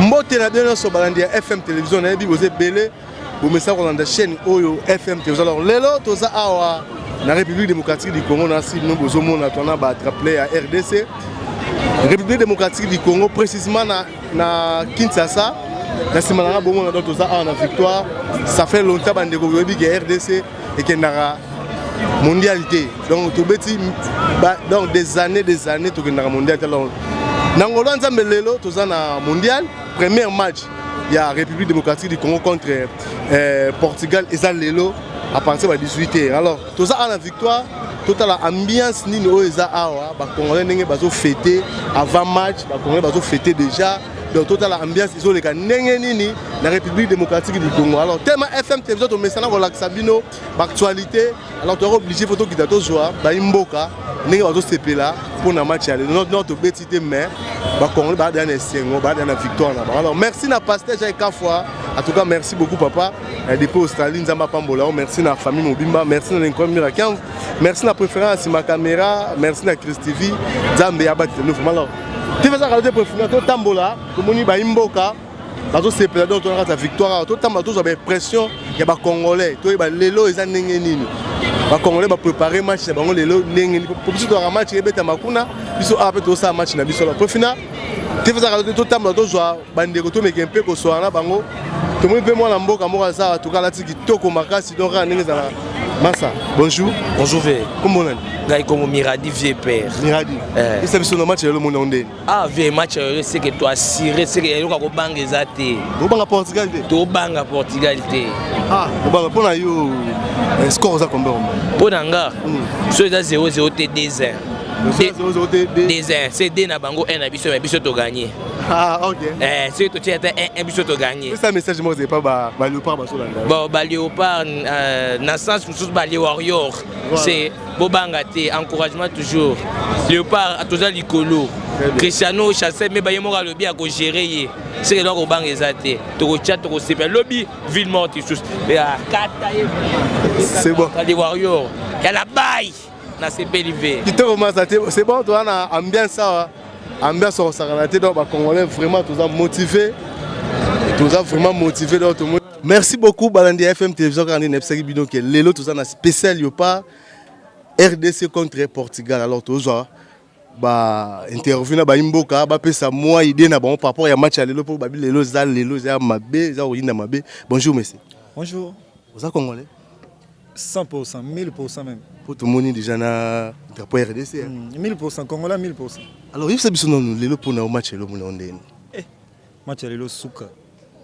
mbote na bino nyonso balandi ya fm télévision nayebi boza ebele bomesa kolanda chaîne oyo fm télévision alors lelo toza awa na république démocratique du congo na sino bozomona twana ba traple ya rdc république démocratique du congo précisement na na Kinshasa na nsima na nga bongo na donc toza awa na victoire ça fait longtemps bandeko boyebi ke rdc ekendaka mondial te donc tobeti donc des années des années tokendaka mondial te alors na ngolo ya nzambe lelo toza na mondial premier match ya république démocratique du congo contre euh, portugal eza lelo à partir ba 18 heures alors toza awa na victoire totala ambiance nini oyo eza awa bacongolais ndenge bazo fete avant match bacongolais bazo fete déjà donc totala ambiance ezoleka ndenge nini na république démocratique du congo alors tellement fm télévision tomesana kolakisa bino baactualité alors toyaka oblige fo tokita tozwa bayi mboka ndenge bazosepela mpo na match ya lelo nor tobeti te mais bacongolais baadaya na esengo baadaya na victoire na bango alors merci na pasteur jai kafwa en tout cas merci beaucoup papa Eh, depuis australie nzambe apambola yo merci na famille mobimba merci na lincoln mira 15 merci na préférence ma caméra merci na chris tv nzambe abakisa bino vraiment alors tv eza kala te préférence totambola tomoni bayi mboka bazosepela donc tona kati ya victoire awa totambola tozwa baimpression ya bacongolais toyeba lelo eza ndenge nini bacongolais baprépare match na bango lelo ndenge nini po biso tozwaka match ebetama kuna biso awa mpe tozosala match na biso alors profina tv eza kala te totambola tozwa bandeko tomeke mpe kosola na bango tomoni mpe mwana mboka moko aza atuka alati kitoko makasi donc kaka ndenge ezala masa bonjour bonjour ve kombo nani ngai kombo miradi vie père miradi eh. esa biso na match ya lelo mona ndeni ah vie match ya lelo seke to assuré seke eloko ya kobanga eza te tobanga portugal te tobanga portugal te ah tobanga mpo na yo eh, score oza combien mpo na nga hmm. so eza 00 te 2 1 2 1 c'est 2 na bango 1 na biso me biso toganye Ah, okay. eh, soki totie ata un biso toganye pesa message moko epa baleopard bazolanda bon baleopard euh, na sens mosusu balewarrior c'est bobanga te encouragement toujours leopard toza likolo cristiano chasse me baye moko alobi akogere ye seke eloko kobanga eza te tokotya tokosepela lobi ville morte lisusu kata ye c'est bon les warrior ya la baye Na sepeli ve. Kitoko masa te, c'est bon toi na ambiance awa. Ambiance au sakana te donc ba congolais vraiment tous motivé. Tous vraiment motivé donc tout Merci beaucoup balandi ya FM télévision kaka nde nayebisaki bino ke lelo toza na spécial yopa RDC contre Portugal alors tozwa ba interview na bayi mboka bapesa mwa idee na bango par rapport ya match ya lelo mpo babi lelo eza lelo eza mabe eza koyinda mabe bonjour monsieur bonjour oza congolais 100% 1000% même mpo tomoni déjà na drapeau ya rdc hein? Mm, 1000% congolais 1000% alors yebisa biso nanu lelo mpo na yo match ya lelo mona yo ndeni eh, match ya lelo suka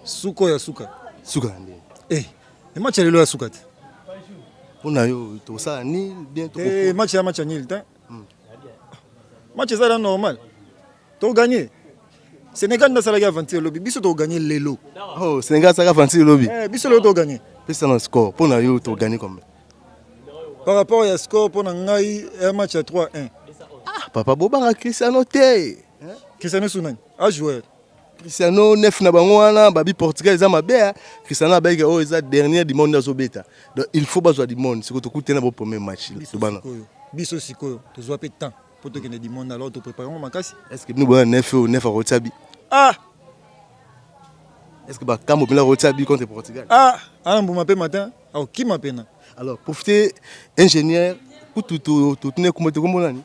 suka ya suka suka ya ndeni eh, e match ya lelo ya suka te mpo na yo tosala nil bien eh, match ya match ya nil te Hmm. Match eza la normal. To gagner. Sénégal n'a salaki aventure lobby, biso to gagner lelo. Oh, Sénégal salaki aventure lobby. Eh, biso lelo to gagner. Pesa na score, pour na yo to gagner combien Par rapport à score pour na ngai un match à 3-1. Ah, papa bobanga Cristiano te. Hein? Cristiano Sunani, a joueur. Cristiano nef na bango wana babi Portugal eza mabe hein. Cristiano abeke oyo oh, eza dernière du monde azo beta. Donc il faut bazwa du monde siko tokutena bo premier match tobana. Biso sikoyo tozwa pe temps pour tokende du monde alors to préparer ngo makasi. Est-ce que nous boya nef ou nef akotia bi? Ah Est-ce que bakambo pela akotia bi contre Portugal? Ah, ana mbuma pe matin akokima pena. Alors profiter ingénieur kutu totune kumba tokombo nani?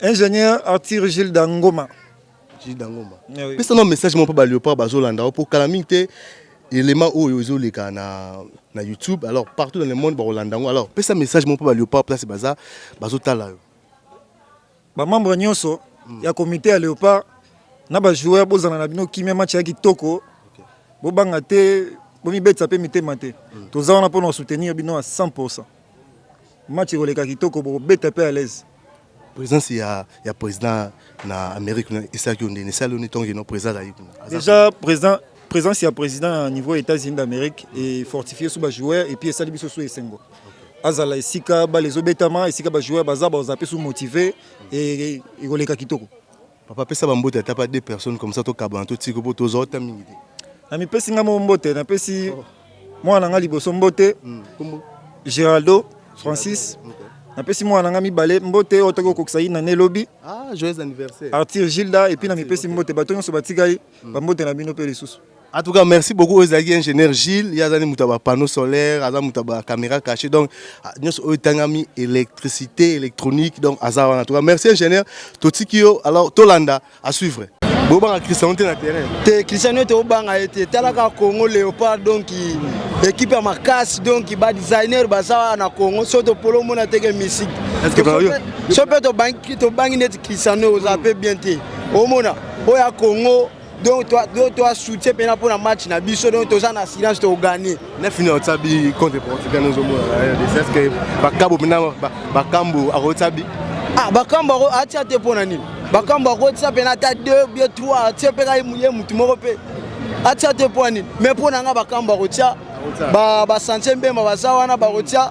Ingénieur Arthur Gilles Dangoma. jida ngomba eh pesa na message moko mpo baleopard bazolanda yo mpo kala mingi te elema oyo ezoleka na, na youtube alors partout dans le monde bakolanda yango alors pesa message moko mpo baleopard place baza bazotala yo bamembre nyonso mm. ya komite ya leopard na bajoueur bozala na bino kimia match ya kitoko okay. bobanga te bomibetisa mpe mitema te mm. toza wana mpo na kosoutenir bino ya 100 Match ekoleka kitoko bokobeta pe à l'aise. Présence ya ya président na Amérique na esaki ondene sali oni tongi no président ayi kuna. Déjà président présence ya président na niveau États-Unis d'Amérique et fortifier sous ba joueurs et puis esali biso sous esengo. Azala esika ba les obetama esika ba joueurs baza ba zape sous motivé et ekoleka kitoko. Papa pesa ba mbote ata pa deux personnes comme ça to kabana to tiko po toza ota mingi te. Na mipesi nga mo mbote na pesi oh. mwana na nga liboso mbote. Mm. Kombo Geraldo Francis. Okay. Na pesi mwana na nga mibale mbote oyo toki okokisa yina ne lobi. Ah, joyeux anniversaire. Arthur Gilda et puis na mipesi mbote bato nyonso batikali mm. ba mbote na bino pe lisusu. En tout cas, merci beaucoup aux ingénieur Gilles. Il y a des panneaux solaires, des caméras cachées. Donc, nous avons électricité, électronique. Donc, en tout cas, merci ingénieur. Totikio, alors, Tolanda, à suivre. bobanga cristiano te na terrain te cristiano ete obanga ye te talaka congo léopard donc équipe ya makasi donc badesigner baza wana na congo so topolo omona teke misiki so mpe tobangi neti cristiano oza mpe bien te omona oyo ya congo donc toi toi toi soutien pena pour la match na biso donc toza na silence to gagner na final tsabi contre Portugal nous omona c'est ce que bakabo pena bakambo akotsabi ah bakambo ako atia te pona nini bakambo akotsa pena ta 2 bien 3 atia pe ka ye mutu moko pe atia te pona nini mais pona nga bakambo akotia ba ba santie mbemba baza wana bakotia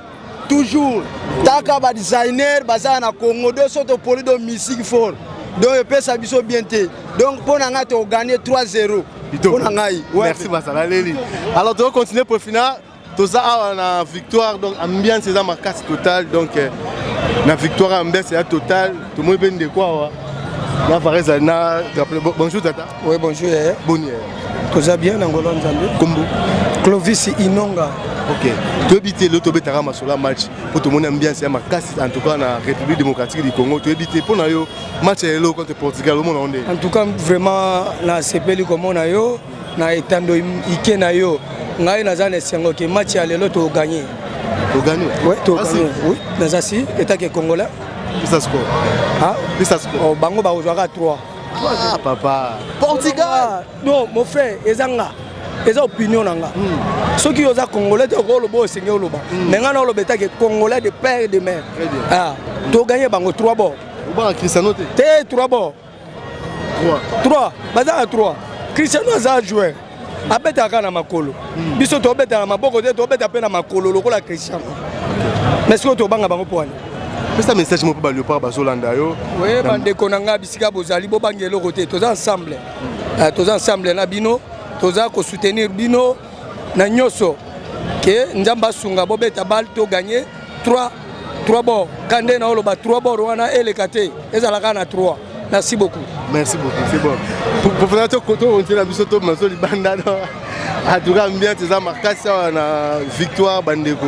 toujours taka ba designer bazala na congo do so topoli do musique fort donc epesa biso bien te donc mpo na ngai tokoganye 3 0 mpo na ngai merci basala leli alors tozo continue profina toza awa na victoire donc ambiance eza makasi total donc eh, na victoire ambiance ya total tomoni mpe ndeko awa na varese na bonjour tata Oui, bonjour yaya. Boni yaya. Toza bien na ngolo nzambe. Kombo. Clovis Inonga. Ok. Toyebi te lelo tobetaka masolo ya match mpo tomoni ambiance ya makasi en tout cas na République démocratique du Congo toyebi te mpo na yo match ya lelo contre Portugal omona ngo ndenge. En tout cas vraiment nasepeli komona yo na etando ike na yo ngai naza na esengo ke match ya lelo toganye. Toganye? Oui, toganye. Oui, naza si etake congolais. Pisa score. Hein? Pisa score. Oh, bango bakozwaka 3. Ah, papa. Portugal. Non, mon frère, ezanga. eza opinion na nga hmm. soki yo oza congolais te okoloba osenge oloba hmm. me ngai na oloba etake congolais de père et de mère ah, toganye bango trois bord te trois bord trois baza na trois cristiano aza joueur abetaka kaka na makolo hmm. biso tobeta na maboko te tobeta mpe na makolo lokola christian mais sikoyo tobanga bango mpo wana pesa message moko mpe baleopard bazolanda yo oye bandeko na ngai bisika bozali bobangi eloko te toza ensemble hmm. eh, toza ensemble na bino toza kosoutenir bino na nyonso ke nzambe asunga bobeta bale to gagne 3 3 bord kande na oloba 3 bord wana eleka te ezalaka na 3 Merci beaucoup. Merci beaucoup. C'est bon. Pour professeur to koto on tient la biso to maso libanda no. En tout cas bien tes marquages na victoire bandeko.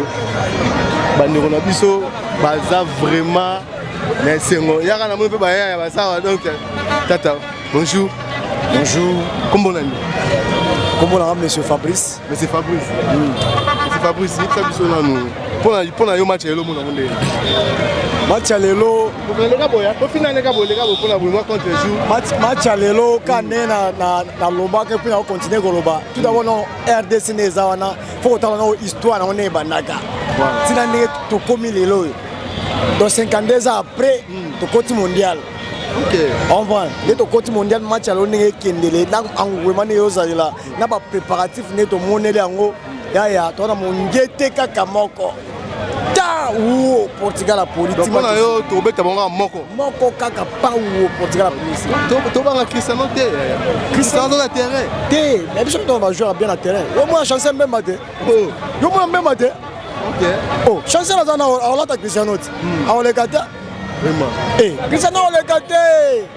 Bandeko na biso baza vraiment na esengo. Yaka na moni pe baya ya basawa donc tata. Bonjour. Bonjour. Kombo nani? Kombo na monsieur Fabrice. Monsieur Fabrice, Monsieur Fabrice, yebisa biso nanu mpona mpona yo match ya lelo omonango ndenge match ya lelo okoleka boya tofina leka boleka bo mpona bolingo contre jour Match- match ya lelo ka nde na- na- nalobaka mpe nakokontinue koloba tout d'abord no rdc nde eza wana fo kotala nao histoire nango nde ebandaka Voilà. ntina ndenge tokomi lelo oyo donc 52 ans après tokoti mondial ok comprendre nde tokoti mondial match ya lelo ndenge ekendele na engouement ndenge eozalela na ba préparatif nde tomoneli yango yaya toza na mongete kaka moko ta uo portugal apolitipona yo tobeta bango kaka moko moko kaka pa uo portugal apolisi tobanga cristiano te cristiano aza na terrain te mais biso mitona bajoueur ya bien na terrain yo mwana chance mbemba te oh. yo mwana mbemba te oh, chance aza na aolata cristiano te hmm. aoleka te cristiano aoleka te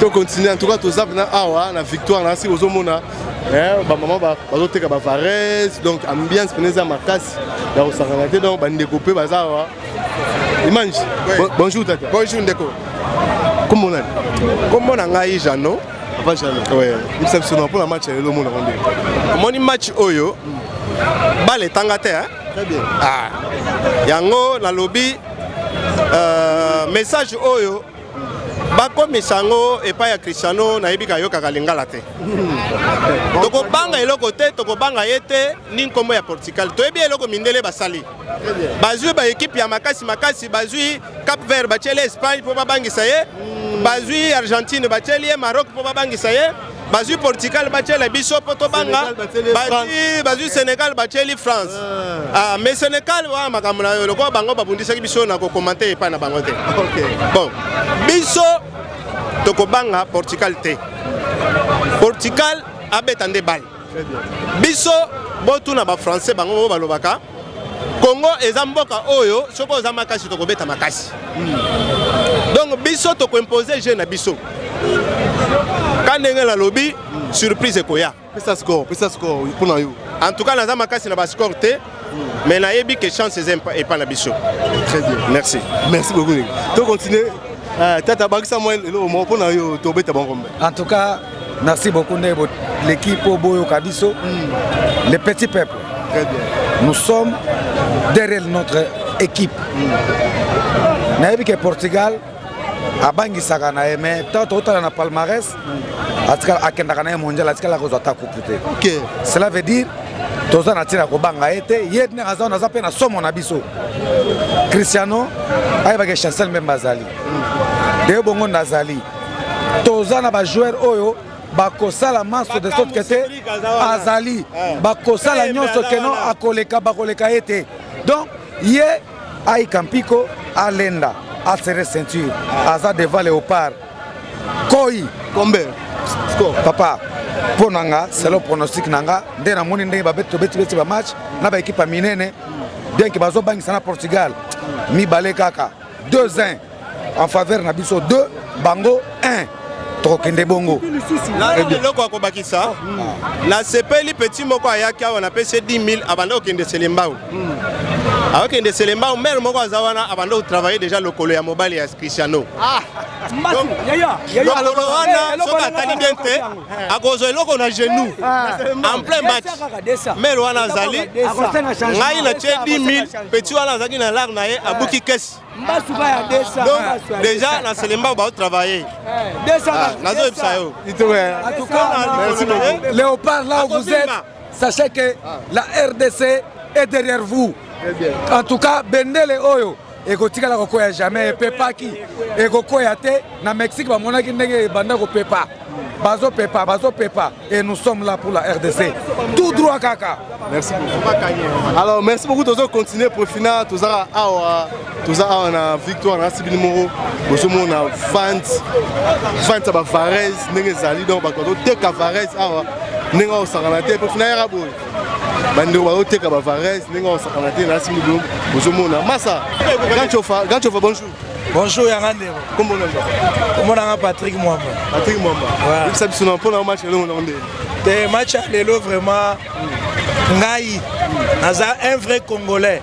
To continue en tout cas toza na awa na victoire na si bozo mona eh ba maman ba bazo teka ba varese donc ambiance peneza makasi ya kosangana te donc ba ndeko pe baza awa Image. Oui. Bonjour tata. Bonjour ndeko. Comment on est Comment on a Jeannot Papa Jeannot. Oui. Nous sommes sur pour la match le monde rendez. Mon match oyo. Balle tangate hein. Très bien. Ah. Yango na lobby euh, message oyo bakomisa yango epai ya Cristiano nayebi kayokaka lingala te tokobanga eloko te tokobanga ye te ni nkombo ya Portugal toyebi eloko mindele basali bazwi baekipe ya makasi makasi bazwi Cap Vert batyeli Espagne mpo babangisa ye bazwi Argentine batyeli ye Maroc mpo babangisa ye bazwi portugal batyela biso mpo tobanga bazwi sénégal batyeli france ah. Ah, mais sénégal wana makambo na yo lokola bango babundisaki biso na kokomante epai na bango te bon biso tokobanga portugal te portugal abeta nde bale biso botuna bafrançais bango bango balobaka Congo eza mboka oyo soki oza makasi tokobeta makasi hmm. donc biso tokoimpose je na biso ka ndenge nalobi surprise ekoya pesa score pesa score mpo na yo en tout cas naza makasi na bascore te hmm. mais nayebi ke chance eza epa na biso très bien merci merci beaucoup to continuer eh, tata bakisa mwa eloko moko mpo na yo tobeta bango mbe en tout cas Merci beaucoup ndenge boleki mpo boyoka biso mm. le petit peuple Très bien. nous sommes derrière notre équipe mm. nayebi ke portugal abangisaka na ye mais ntango tokotala na palmarès mm. atikala akendaka na ye mondial atikala akozwa ata coupe te okay. cela veut dire toza na ntina ya kobanga ye te ye ndenge aza naza mpe na somo na biso cristiano ayebaka chancel meme azali mm. de bongo nazali toza na ba joueur oyo bakosala manso de sorte que te azali eh. bakosala eh, nyonso keno akoleka bakoleka ye te donc ye aika mpiko alenda asere ceinture eh. aza devant leopard koi combien papa mpo na nga selo pronostic na nga nde namoni ndenge babetobetibeti bamatch na baekipe ya minene bien ke bazobangisa na portugal mibale kaka deux un en faveur na biso deux bango un tokokende bongo eloko ya kobakisa ah. nasepeli peti moko ayaki awa napesi 10 000 abanda kokende selembau hmm. akokende selembau mere moko aza wana abanda kotravaille deja lokolo ya mobali ya cristiano ah, lokolo wana soki atali bien te eh. akozwa eloko na genou eh. en plein match mele wana azali ngai na tie 10 000 petit wana azalaki na lare na ye eh. abuki kesi donc déjà na selemba baotravaille ah, nazoyebisa yo léopard là où vous êtes Sachez que ah. la RDC est derrière vous. En tout cas, Bendele Oyo ekotikala kokoya jamais epepaki ekokoya te na mexique bamonaki ndenge ebanda kopepa bazopepa bazopepa et nous sommes là pour la rdc tout droit kaka merci beaucoup alors merci beaucoup tozo continuer profina tozala awa toza awa na victoire nasi bino moko bozomona vente vente ya bavares ndenge ezali donc bato bazoteka vares awa ndenge akosakana te mpo fina yaka boye bandeko bazoteka bavares ndenge akosakana te nasi bino bozomona masa ganchofa ganchofa bonjour bonjour yanga ndeko kombo na nzapa kombo nanga patrick mwamba patrick mwamba yebisa biso na mpo na match elongo nango ndenge te match ya lelo vraiment ngai naza un vrai congolais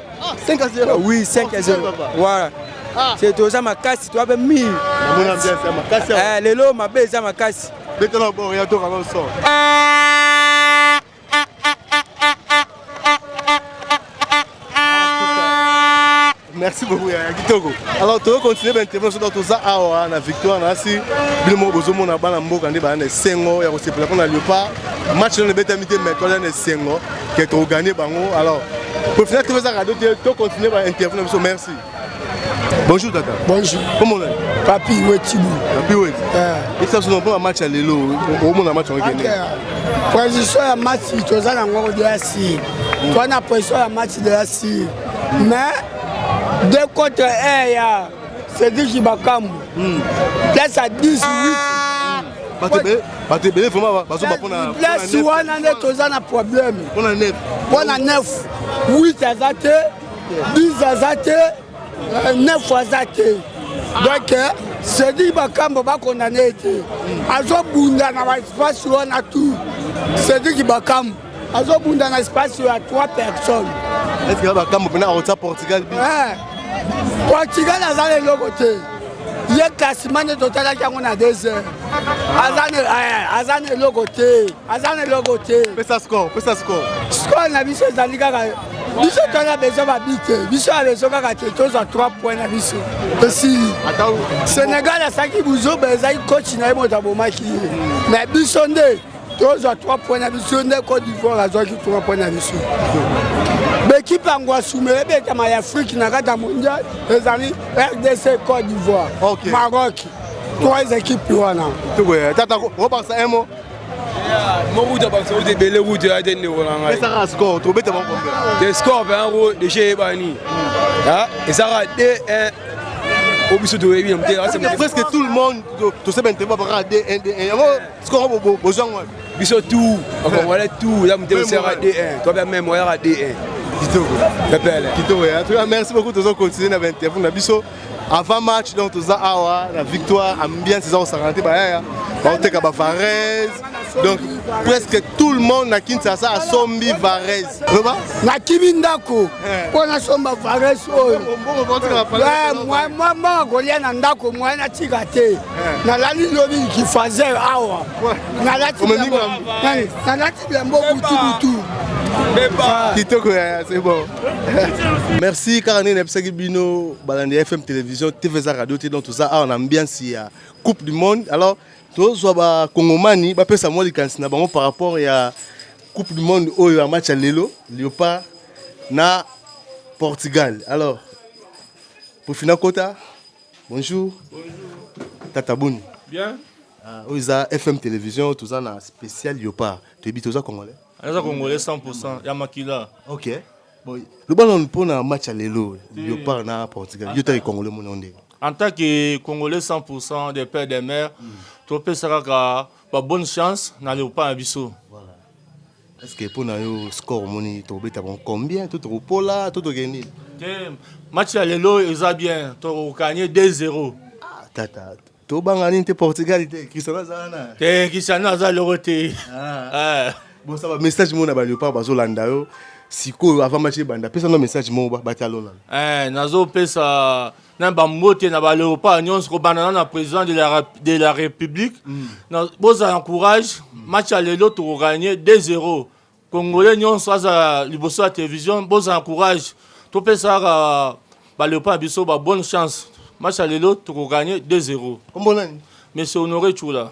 5 à 0. Ah oui, 5 à 0. Voilà. Ah. C'est aux Amakassi, toi, ben, mi. Eh, les lots, ma belle, les Amakassi. Dès que l'on boit, il y a tout avant le sort. merci beaucoup ya kitoko alors toyo continue baintervention donc toza awa na victoire na asi bino moko bozomona bana mboka nde baa na esengo ya kosepela mpo na leopard match nano ebetami te mais toza na esengo que to gagner bango alors pour finir tu veux ça radio to continuer ba interview na biso merci bonjour tata bonjour comment on est papi wetibu papi wet eh ça son bon match à lelo au mon match on gagner position ya match to za na ngoko de la si to hmm. na position ya match de la si mais deux contre 1 ya Cédric Bakambu. Hmm. Place à 18. Ah. bato ebele vraimen bazoba mpona place wana nde toza na problème mpona nef mpona nef 8 aza te 10 aza te 9 euh, aza te donc euh, sedi bakambo bakondane ye te azobunda na baespace wana tu sediki bakambo azobunda na espace ya 3 personnes eske bakambo mpena akotya portugal bi eh, portugal aza na eloko te ye klasima nde totalaki yango na deux heures aza na eloko te aza na eloko te pesa score pesa score score na biso ezali kaka biso toza besoin babi te biso ya besoin kaka te tozwa 3 point na biso esili sénégal asaki buzoba ezali coach na ye moto abomaki ye mais biso nde tozwa 3 point na biso nde cote d'ivoire azwaki 3 point na biso bekipe yango asumela ebetama ya afrike na kati ya mondial ezali rdc cote d'ivoire okay. maroc trois équipes wana tata obakisa un mot mokuta bakisa kuti ebele kuti ya te ndeko na ngai esaka score tobeta bango te score mpe yango deja eyebani ezaka 2 1 obiso toyebi na motema presque tout le monde tosebe ntema bakaka 2 1 2 1 sikoyo bozwango wapi biso tout bakongole tout ya motema osiyaka d1 tobe meme oyaka d1 kitoko pepele kitoko ya tuka merci beaucoup tozo continuer na bainterview na biso avant match donc toza awa na victoire ambiance eza kosangana te bayaya baoteka bavarese donc presque tout le monde na kinshasa asombi varese loba nakimi ndako mpo eh. nasomba varese oyo mwa mwa kolia na ndako mwa natika te nalali lobi kifazer awa nalati bilambo butubutu kitoko yaya c'est bon merci kaka ndenge nayebisaki bino balandi ya fm télévision tv eza radio te donc toza awa na ambiance ya coupe du monde alors tozwa bakongomani bapesa mwa likanisi na bango par rapport ya coupe du monde oyo ya match ya lelo leopard na portugal alors pofina kota Bonjour. Bonjour. Tata Boni. Bien. Ah, oyo eza FM télévision toza na spécial Yopa. Toyebi toza congolais. Aza congolais 100% ya makila. OK. Bon, le ballon pour na match à lelo Yopa na Portugal. Yo tali congolais mon onde. En tant que congolais 100% de père de mère, mm. topesaka ka ba bonne chance na Yopa na biso. Voilà. Est-ce que mpo na yo score omoni tokobeta bango combien to tokopola to tokee nini te match ya lelo eza bien tokokanye 2-0 ah, tata tobanga nini te portugal te cristiano aza wana te cristiano aza loko te ah. ah. bosa bamessage mona baleopard bazolanda yo sikoyo avant match ebanda pesa no message moko batalona eh, nazopesa na bambote na baleopard nyonso kobandana na président de la, de la république mm. na bozala na courage mm. match ya lelo tokoganye 2-0 congolais nyonso azala liboso ya télévision bozala na courage topesaka baleopard na biso ba bonne chance match ya lelo tokoganye 2-0 monsieur honoré chula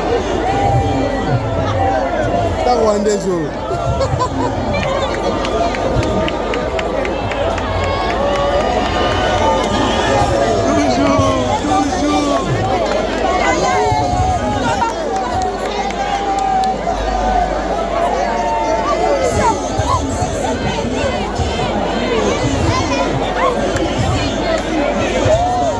ta rwandais oyo